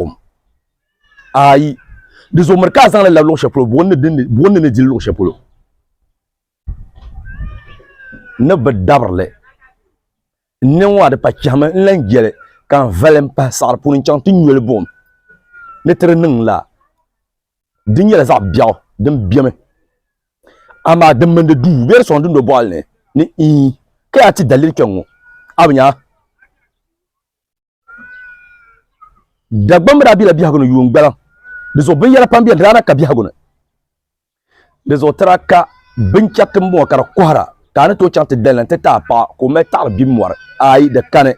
kom ayi di zo miri ka a zaŋli labi luɣu shɛli polo buɣim ni ni dili luɣu shɛli polo ni bi dabirili n niŋ ŋɔ a di pa chɛhimi n lan jɛli ka n vali n pahi saɣari puuni n chaŋ ti nyoli buɣim ni ti di niŋ la di nyɛla zaɣ biɛɣu din biɛmi amaa din mini di duu bɛ di sɔŋ dundo boɣali ni ni ii ka yaa ti daliri kpɛŋŋo a bi nya Dagbamb daa bela biɛhigu ni yuun gbaliŋ. Di zuɣu binyɛra pam beni daa na ka biɛhigu ni. Di zuɣu ti daa ka binchɛriti m-bɔŋɔ ka di kɔhira ka a ni tooi chaŋ ti dali na nti ti a paɣa ka o mali taɣiri bim mɔri. Aai! Di kani.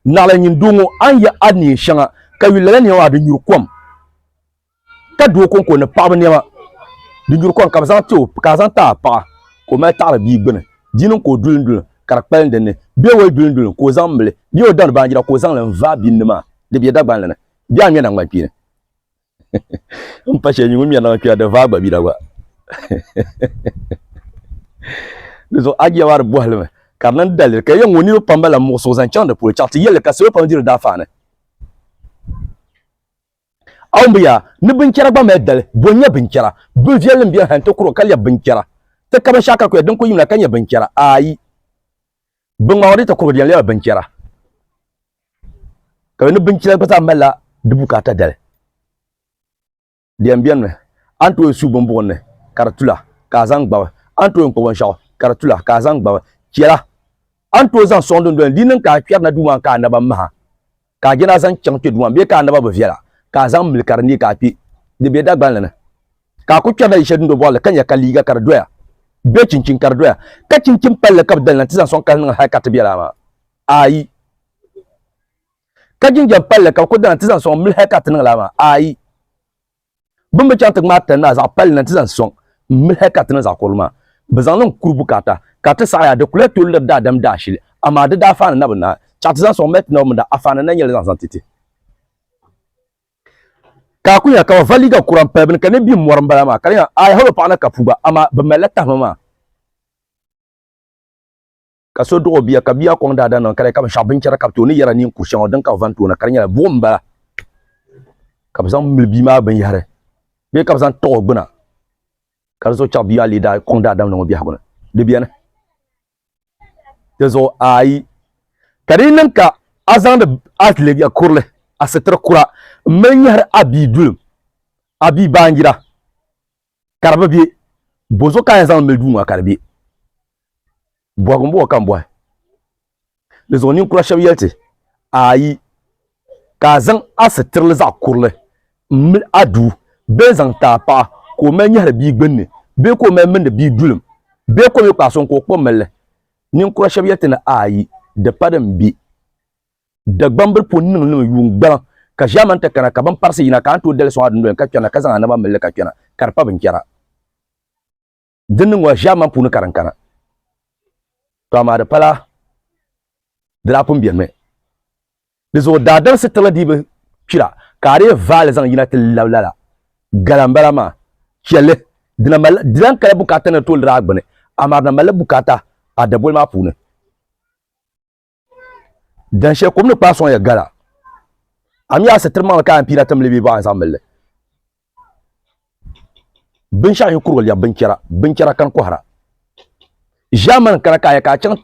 Naɣila nyin doo ŋɔ, a ni yɛh a ni neen shɛŋa ka yuli lala nɛma maa di nyuri kom. ka do o konko ni paɣaba niɛma di nyuri kom ka bi zaŋ ti o ka a zaŋ ti a paɣa ka o mali taɣari bia gbuni di niŋ ka o duli duli ka di kpalim dinni bɛ o duli duli ka o zaŋ mili bɛ o dari baanjira ka o zaŋli n vaai binni maa di bɛ dagbanli ni bɛ a ŋmɛna ŋmani kpeeni n pa shɛli mi ŋun ŋmɛrina ŋɔ kpɛra di vaai gba bɛ da gba di zuɣu ajiya maa di bɔhili mi ka di niŋ daliri ka yɛn ŋɔ niriba pam bala muɣisigu zaŋ chaŋ di polo chaɣati yɛlli ka salo pam diri daa faani A wumbu yaa ni binchɛra gba mali dali, bo n-nyɛ binchɛra? Bin viɛlli m-beni ha nti kuro ka lɛbi binchɛra ti ka binshɛɣu ka kuya din kuli yim la ka nyɛ binchɛra? Aai! Bɛ ŋmaagi o di ti kuro di yɛn lɛbi binchɛra. Ka yo ni binchɛra gba zaa malila di bukaata dali. Di yɛn beni mi, a ni tooi su bimbuɣin ni ka di tula, ka a zaŋ gbabi. A ni tooi kpa binshɛɣu ka di tula, ka a zaŋ gbabi. Chɛla! A ni tooi zaŋ sɔŋ dundoli ni di yi niŋ ka a kpɛri na duu maa ni ka a naba maha, ka a je ni a zaŋ chaŋ kpe Duuma bee ka a naba bi viɛla ka a zaŋ mili ka di neei ka a kpe di be Dagbanli ni, ka a kul kpɛrila yili shɛli dundo bɔɣili ka nya ka liiga ka di doya bee chinchini ka di doya, ka chinchin palli ka bɛ dali na nti zaŋ sɔŋ ka di niŋ hal ka ti be lala maa? Aai! Ka jinjam palli ka bɛ kul dali na nti zaŋ sɔŋ mili hal ka ti niŋ lala maa? Aai! Bin bi chaŋ ti ŋmaai tani maa zaɣ palli na nti zaŋ sɔŋ m-mili hal ka ti niŋ zaɣ kurili maa, bɛ zaŋ niŋ kuri bukaata. Ka ti saɣiya di kulia tooi liri daadam daashili, amaa di daafaani na bi naai chaɣ ti zaŋ sɔŋ m-mali ti naba mini di afaani na n-nyɛ li zaŋ zaŋ ti ti. Ka a kuli nya ka bɛ va liiga kura m-pali bɛ ni ka ni bim mɔri m-bala maa, ka di nya aai hal o paɣa na ka puu gba, amaa bɛ malila tahima maa. ka so dɔɣi o bia ka bia kɔŋ daadana niŋ ka di ka binshɛɣu binchɛra ka bi tooi ni yɛra neen kur shɛŋa din ka bi van toona ka di nyɛla buɣum m-bala ka bi zaŋ mili bia maa binyɛhiri bee ka bi zaŋ taɣi o gbuna ka di zuɣu chɛɣu bia maa lee daa kɔŋ daadam niŋ o biɛhigu ni di beni di zuɣu ayi ka di yi niŋ ka a zaŋdi a liiga kurili a sitiri kura m-mali nyɛhiri a bia dulim a bia baanjira ka di bi bɛ bozo ka a yɛn zaŋ mili duu ŋɔ ka di bɛ bɔhigu m-bɔhi ka m bɔhi di zuɣu ninkura shɛba yɛli ti ayi ka a zaŋ a sitirili zaɣ kurili m-mili a duu bee n-zaŋ ti a paɣa ka o mali nyɛhiri bia gbunni bee ka o mali mindi bia dulim bee ka o mi kpaai sɔŋ ka o kpuɣi m-mili li ninkura shɛba yɛli ti ni ayi di pa din bɛ Dagbambili po niŋ niŋ yuun gbaliŋ, ka ʒiɛmani ti kana, ka bini parisi yina, ka a ni tooi dali sɔŋ a dundoli ni ka kpɛrina, ka zaŋ a naba mil li ka kpɛna, ka di pa binchɛra. Din niŋ ŋɔ, ʒiɛmani puuni ka din kana. Tɔ amaa di pala di daa pun benimi. Di zuɣu daadam sitirili dii bi kpira, ka a dii vaai li zaŋ yina ti lab lala. Gala m-bala maa. Chɛ li. Di na malila, di lan kala bukaata ni di tooi liri a gbini, amaa di na malila bukaata a daboli maa puuni. dan shɛli kom ni kpaai sɔŋya gala a mi a sitiri maŋli ka a yɛn piila timli bee bɔɣa zaŋ milli binshɛɣu yi kurigu lɛbi binchɛra binchɛra kani kɔhira ʒiɛmani kana ka a yɛ ka a chaŋ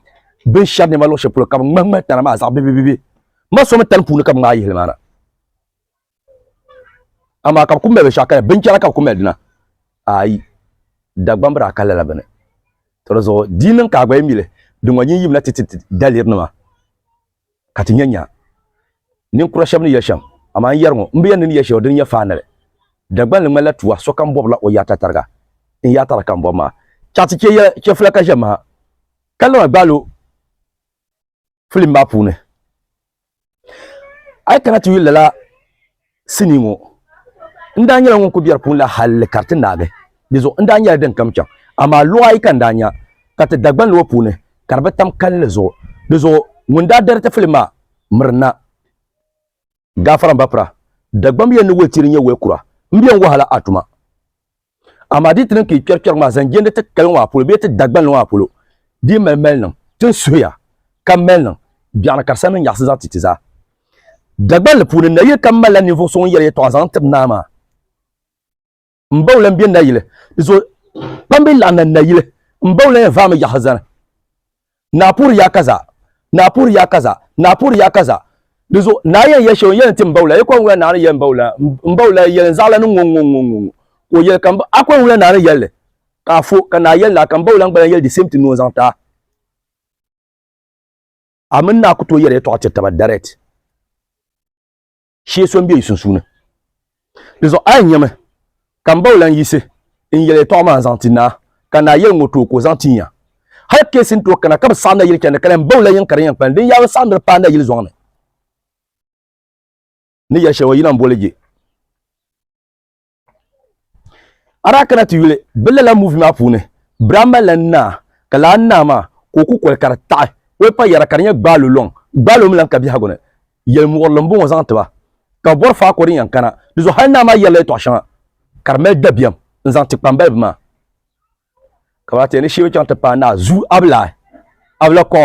binshɛri nɛma luɣu shɛli polo ka bi ŋmahi ŋmahi tana maa zaɣ bibibibi ma so mi tani puuni ka bi ŋmaai yihili maa na amaa ka bi ku mali binshaɣu kaya binchɛra ka bi ku mali dina ayi dagbamb daa ka lala bini to di zuɣu di niŋ ka a gba yi mili din ŋɔ nyin yimina ti ti daliri nima ka ti nya nya ninkura shɛb ni yɛli shɛm amaa n yɛri ŋɔ m bi yɛn ni ni yɛli shɛli din nyɛ faanili Dagbanli ŋmanila tuwa sokam bɔbila o yaata tariga n yaata la ka m bɔbi maa chaɣ ti chɛ yɛla chɛfula ka ʒɛ maha ka lana gbaalo filim maa puuni a yi kana ti yuli lala sinii ŋɔ n daa nyɛla ŋun ku biɛri puuni la halli ka ti naagi di zuɣu n daa nyɛla din kam chɛŋ amaa luɣa ayi ka n daa nya ka ti dagbanli ŋɔ puuni ka di bi tam kalinli zuɣu di zuɣu ŋun daa dariti filim maa mirina gafara n ba pira dagbambi yɛn ni woli tiri nyɛ woli kura n biɛn wahala a tuma amaa di ti niŋ ka yi kpɛri kpɛrigu maa zaŋ jɛndi ti kaliŋ maa polo bee ti Dagbanli maa polo di mali mali niŋ ti ni suhuya ka mali niŋ biɛɣu ni ka di sani ni nyaɣisi zaɣ ti ti zaa Dagbanli puuni nayili kam malila ninvuɣ so ŋun yɛli yɛtɔɣa zaŋ tiri naa maa n ba o lan be nayili di zuɣu kpambi laɣinna nayili n ba o lan yɛn vaami yaɣisi zani Naa puhiri ya kaza, naa puhiri ya kaza, naa puhiri ya kaza. Di zuɣu naa yɛn ya shɛli o ni yɛli n-tim Baula, Akon wula naa ni yɛli m-Baula la, m-Baula la yɛli n-zaɣila ni ŋ-ŋ-ŋ-ŋ-ŋ-ŋ ka o yɛli ka Akon wula naa ni yɛli li ka a fo ka naa yɛli naa ka m-Baula gba lan yɛli the same thing ni o zaŋ ti a. A mini naa ku tooi yɛri yɛtɔɣa tiri taba direct. shee so m-be yi sunsuuni. Dinzuɣu a yi nyami ka m ba o lan yiɣisi n-yɛl yɛtɔɣa maa zaŋ ti naa, ka naa yɛli n ŋɔ tooi ka o zaŋ ti n ya. Hal keesi n-tooi kana ka bi saɣim nayili chandi ka lan ba o la yiŋ ka di yɛn kpalim, din yaa bi saɣim di ni paai nayili zɔŋ ni ni yɛl shɛli o yina m-boli je. a daa kana ti yuli bi lala muvi maa puuni biraa malila naa ka laa naa maa ka o ku koli ka di taɣi o pa yɛra ka di nyɛ gbaalo lɔŋ gbaalo mi lan ka biɛhigu ni yɛlimuɣirili n bɔŋɔ zaŋ tiba ka bi bɔri faako din yɛn kana di zuɣu hali naa maa yɛrila yɛtɔɣ shɛŋa ka di mali dabiɛm n zaŋ ti kpambalibi maa ka ba ta ni shee chaŋ ti paai naa zuu abila abila kɔ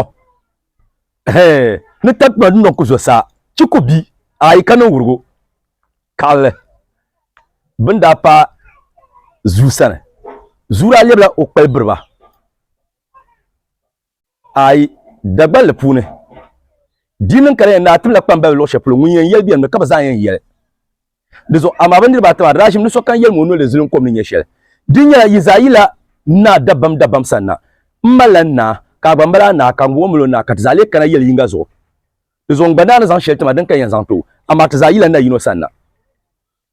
ni takpima din niŋ ku zuɣusaa chi ku bi ayi ka niŋ wurugu kaɣali bin daa pa zuu sani zuu daa lɛbila o kpali biriba Aai, Dagballi puuni, di niŋ ka di yɛn daa tibila kpambaliba luɣ shɛli polo ŋun yɛn yɛli bɛ ni ka bɛ zaa yɛn yɛli di zuɣu. Amaa bɛ niriba ata maa di daa ʒimi ni sokam yɛlim o noli zilim kom ni nyɛ shɛli. Di nyɛla yi zaa yila naa dabam dabam sani na. M malila n naa, ka a gba mali a naa, ka ŋ gba mali o naa, ka ti zaa lee kana yɛli yiŋga zuɣu. Di zuɣu n gba daa ni zaŋ shɛli ti ma din ka yɛn zaŋ ti o, amaa ti zaa yila na yino sani na.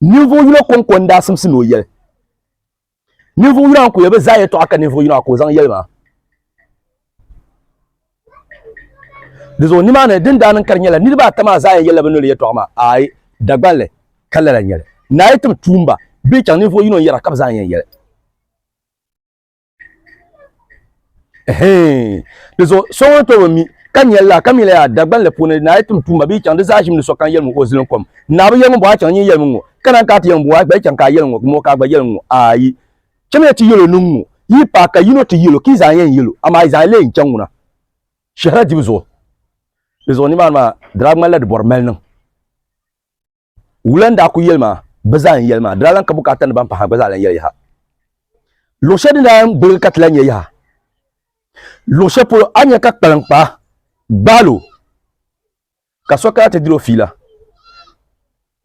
Ninvuɣ yino kɔŋko n-daa simsi ni o yɛli. ninvuɣ yino a ku ya bi zaa yɛtɔɣa ka ninvuɣ yino a ka o zaŋ yɛli maa di zuɣu nimaani din daa niŋ ka di nyɛla niriba ata maa zaa yɛn yɛlila bi noli yɛtɔɣa maa aai Dagbanli ka lala nyɛli ni a yi tim tuumba bee chaŋ ninvuɣ yino n yɛra ka bi zaa yɛn yɛli di zuɣu so ŋun tobi mi ka nyɛlila ka mi la yaa dagbanli puuni naa yi tum tuma bee chaŋ di zaa ʒim ni so kan yɛli ŋɔ o zilin kom naa bi yɛli ŋun bɔ a chaŋ nyɛ yɛli ŋɔ ka naan ka ti yɛli ŋun bɔ a gba chaŋ ka a yɛli ŋɔ ŋɔ ka a gba yɛli ŋɔ ayi chɛmiya ti yɛlo niŋ ŋɔ yi pa ka yino ti yɛlo ka yi zaa yɛn yɛlo amaa yi zaa lee n chaŋ ŋuna shɛhira dibu zuɣu di zuɣu nimaani maa dara ŋmanila di bɔri mali niŋ Wula n daa ku yɛli maa, bɛ zaa n yɛli maa, di daa lan ka bukaata ni ban pahi maa gba zaa lan yɛli yaha. Luɣ shɛli din daa yɛn gbiligi ka ti lan nya yaha luɣ shɛli polo, a ni nya ka kpaliŋkpaa gbaal o ka so kana ti diri o fiila.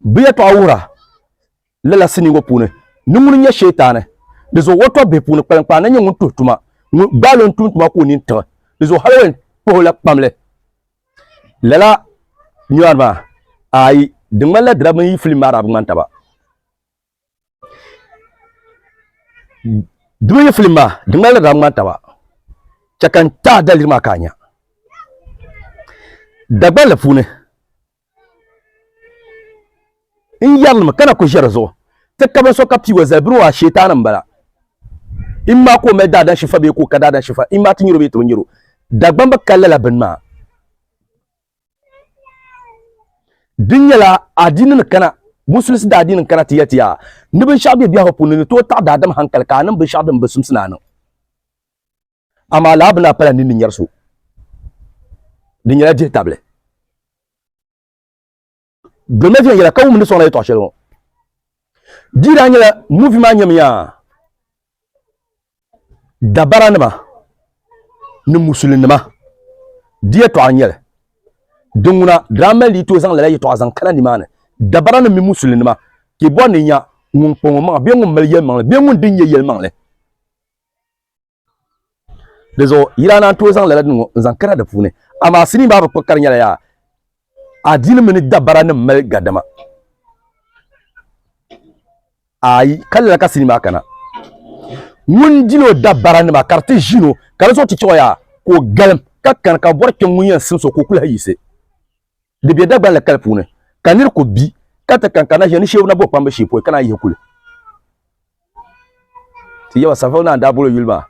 Bɛ yɛtɔɣa wuhira lala sinii ŋɔ puuni ni ŋuni n-nyɛ Sheetaani. Di zuɣu o tɔbbihi puuni kpaliŋkpaa na nyɛ ŋun tuhi tuma, ŋun gbaal o n-tum tuma ka o nini tiɣi. Di zuɣu hal o yɛn kpuhi o la kpamli. lala nyɔri maa ayi di ŋmanila dira mini yi filim maa daa bi ŋmani taba di mini yi filim maa di ŋmanila daa bi ŋmani taba chɛ ka n ti a daliri maa ka a nya Dagbanli puuni n yɛrilimi ka na ku ʒe di zuɣu ti ka binso ka piig o zali biri o a sheetaani m-bala. Im maa ka o mali daadani shifa bee ka o ka daadani shifa? Im maa ti nyari o bee ti bi nyari o? Dagbam bi kali lala bini maa. Di nyɛla adiini ni kana, Musulisi daadiini n kana ti yɛli ti yaa ni binshɛɣu be biɛhigu puuni ni tooi taɣi daadam hankali ka a niŋ binshɛɣu din bi simsi ni a niŋ. Amaa lala bini a pala nini ni nyari so. Di nyɛla dihitabili. Dolima viɛnyɛla ka wumdi sɔŋ la yɛtɔɣ shɛli ŋɔ. Di daa nyɛla muvi maa nyɛmiya dabaranima ni musulinima di yɛtɔɣa n-nyɛli. Din ŋuna daa mali di tooi zaŋ lala yɛtɔɣa zaŋ kana nimaani, dabaranima mini musulinima, ka yi bɔri ni nya ŋun kpa ŋɔ maŋa bee ŋun mali yɛlimaŋli bee ŋun dini nyɛ yɛlimaŋli. di zuɣu yila na n tooi zaŋ lala din ŋɔ n zaŋ kana di puuni amaa sinii maa bi kpuɣi kari nyɛla yaa adiini mini dabara nim mali gadama ayi ka lala ka sinii maa kana ŋun dino dabara nima ka di ti ʒino ka di zuɣu ti chaɣa yaa ka o galim ka kani ka bɔri kpɛŋ ŋun yɛn simso ka o kuli ha yiɣisi di bɛ dagban la kali puuni ka niri ku bi ka ti kan ka na ʒiya ni sheebu na bo kpambi shee poi ka na yihi kuli ti yaba safo naa daa bolo yuli maa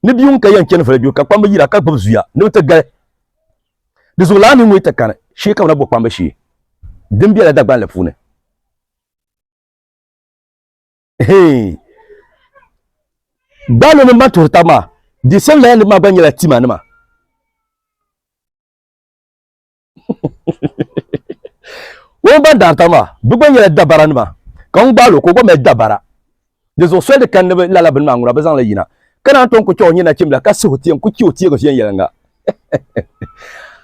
ni bia ŋun ka yɛn chɛni voli ka kpamba yira ka gbubi zuya ni bi ti gali di zuɣu laa ni ŋun ti kani shee ka bi na bo kpamba shee din biɛla Dagbanli puuni gbaaloo mini ban tuhiri tabi maa di same laya nima maa gba nyɛla tima nima ŋun ban daarita maa bi gba nyɛla dabara nima ka ŋun gbaalo ka o gba mali dabara di zuɣu soli di kan ni bi lala bini maa ŋuna bi zaŋla yina ka naan tom ku chɛ o nyɛ nachimbila ka sihi o tiɛm ku chɛ o tiɛgu viɛn yɛlinga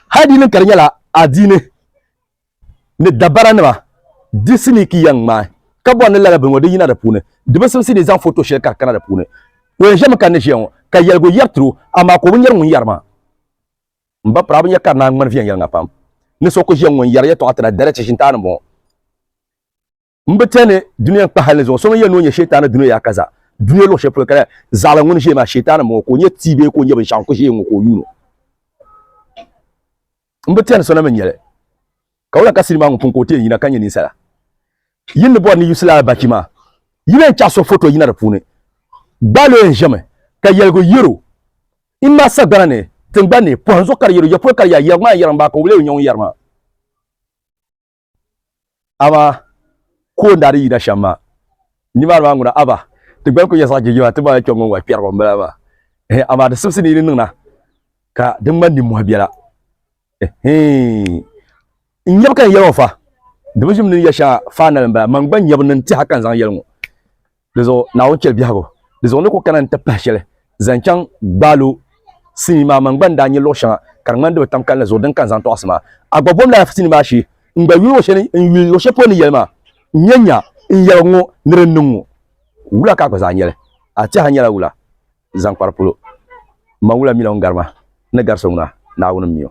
hali di niŋ ka di nyɛla adiini ni dabara nima di sini ki yɛn ŋmaai ka bɔri ni lala bini ŋɔ di yina di puuni di bi simsi ni zaŋ foto shɛli ka di kana di puuni o yɛn ʒɛmi ka ni ʒiya ŋɔ ka yɛligu yɛri tiro amaa ka o bi nyɛri ŋun yɛri maa M ba pirabu nya kari Naŋgbani viɛnyɛliŋa pam. Ni so ku ʒiya ŋun yɛri yɛtɔɣa ti na, dara chi shintaani m-bɔŋɔ. M bi chani dunia n-kpa hal ni zuŋɔ. So ŋun yɛn ni o nya Shɛytaana dunia yaa ka zaa. Dunia luɣ shɛli polo ka zaɣila ŋun ʒiya maa, Shɛytaana m-bɔŋɔ, ka o nya tia bee ka o nya binshɛɣu n-ku ʒiya ŋɔ ka o yuun o. M bi chani so na mi n-nya li. Ka wula ka sinima ŋɔ pun ka o ti yɛn yina ka nya ninsala? Yin ni bɔri ni Yusili Albachi maa, yi ni yɛn chaɣ so foto yina di puuni, gbaal o yɛn ʒiɛmi ka yɛligu yɛr o. N ma sagbana ni tingbani ni, pɔhim zuɣu ka di yɛr o, ya polo ka di yaa, yɛrigu maa n-yɛri m baa ka o leei o nyaŋ n-yɛri ma. Amaa ka o ni daa di yina shɛm maa, nimaani maa ŋuna, Aba, ti gba ni kul nyɛ zaɣ jijima, ti baŋya kpiɔŋ ŋun wali kpɛrigu m-bala maa. Ɛhɛ, amaa di simsi ni yi ni niŋ na, ka di ŋmani nimmɔhi biɛla. n nyɛbu ka n yɛli ŋɔ fa di bi ʒim ni ya shɛŋa faanali n bala man gba nyɛbu ni n tiha ka n zaŋ yɛli ŋɔ di zuɣu naawuni chɛli biɛhagu di zuɣu ni ku kana n ti pahi shɛli zaŋ chaŋ gbaalo sinii maa man gba n daa nyɛ luɣu shɛŋa ka di ŋmani di bi tam kalinli zuɣu din ka n zaŋ tɔɣisi maa a gba bom lala sinii maa shee n gba yuli shɛli n yuli luɣu shɛli polo ni yɛli maa n nyɛ nya n yɛligi ŋɔ ni din niŋ ŋɔ wula ka a gba zaa nyɛli a tiha nyɛla wula zaŋkpara polo. Mma wula mi la ŋun gari ma, n ni gari so ŋuna, Naawuni m-mi o.